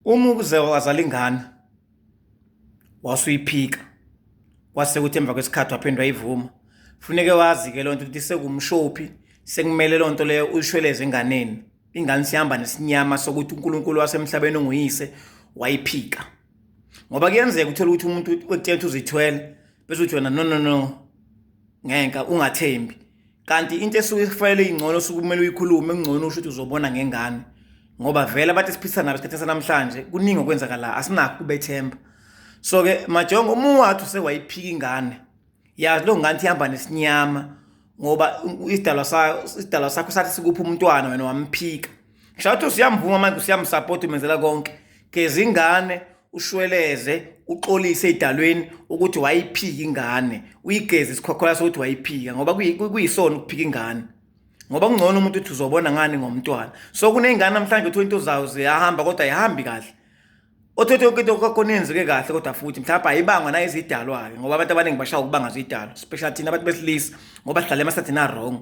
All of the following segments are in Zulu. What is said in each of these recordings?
Uma ukuze wazala ingane wasuyiphika kwase kuthi emva kwesikhathi waphindwa ivuma funeke wazi ke lonto ukuthi sekumshophi sekumele lonto leyo uyishweleze enganeni ingane sihamba nesinyama sokuthi uNkulunkulu wasemhlabeni onguyise wayiphika ngoba kuyenzeka uthola ukuthi umuntu wekuthethe uzithwele bese uthi wena no no no ngenka ungathembi kanti into esuke ifanele ingcono suke kumele uyikhulume kungcono usho ukuthi uzobona ngengane ngoba vele abantu esiphisa nabo isikhathi sanamhlanje kuningi okwenzakala asinakho kubethemba so ke majongo uma ungathi usewayiphika ingane yazi lo ngane ihamba nesinyama ngoba isidalwa sayo isidalwa sakho sathi sikupha umntwana wena wamphika ngisho ukuthi usiyamvuma manje usiyamsupport umenzela konke geza ingane ushweleze uxolise edalweni ukuthi wayiphika ingane uyigeze isikhokhola sokuthi wayiphika ngoba kuyisona ukuphika ingane ngoba kungcono umuntu uthi uzobona ngani ngomntwana so kuney'ngane namhlanje uthola into zayo ziyahamba kodwa ayihambi kahle othethe yonke into kwakhona yenzeke kahle kodwa futhi mhlawumbe ayibangwa nayo izidalwa-ke ngoba abantu abaningi bashaya ukubanga zidalwa especially thina abantu besilisa ngoba sihlale emasathina wrong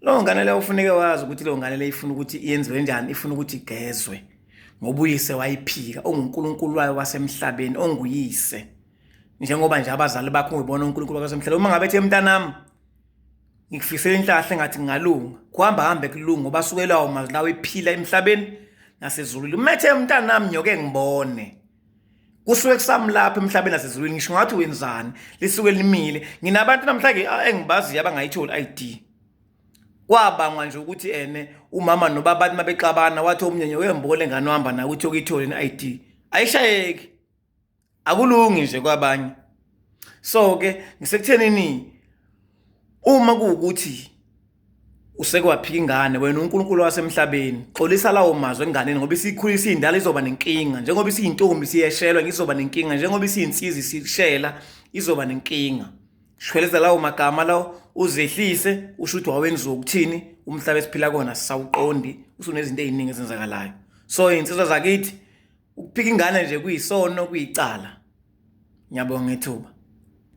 Lo ngane le ufuneke wazi ukuthi lo ngane le ifuna ukuthi yenziwe njani ifuna ukuthi igezwe ngoba uyise wayiphika onguNkulunkulu wayo wasemhlabeni onguyise njengoba nje abazali bakho ngibona uNkulunkulu wasemhlabeni uma ngabe ethe mntanami ngikufisela inhlahle ngathi ngingalunga kuhamba hambe kulunga ngoba sukelawo mazwi lawo ephila emhlabeni nasezulwini umethe mntanami nyoke ngibone kusuke kusamlapha emhlabeni nasezulwini ngisho ngathi wenzani lisuke limile nginabantu namhlanje engibaziyo abangayitholi ID kwabangwa nje ukuthi ene umama nobabani mabexabana wathi omnyenye wembole ngane ohamba nawe uthi okuyithole ne-ID ayishayeki akulungi nje kwabanye so ke ngisekuthenini uma kuwukuthi usekwaphika ingane wena uNkulunkulu wasemhlabeni xolisa lawo mazwi enganeni ngoba isikhulisa indala izoba nenkinga njengoba isiyintombi siyeshelwa ngizoba nenkinga njengoba isiyinsizwe sishela izoba nenkinga shweleza lawo magama lawo uzehlise usho ukuthi wawenziwa ukuthini umhlaba esiphila kona sisawuqondi usunezinto eziningi ezenzakalayo so insizwa zakithi ukuphika ingane nje kuyisono kuyicala ngiyabonga ngethuba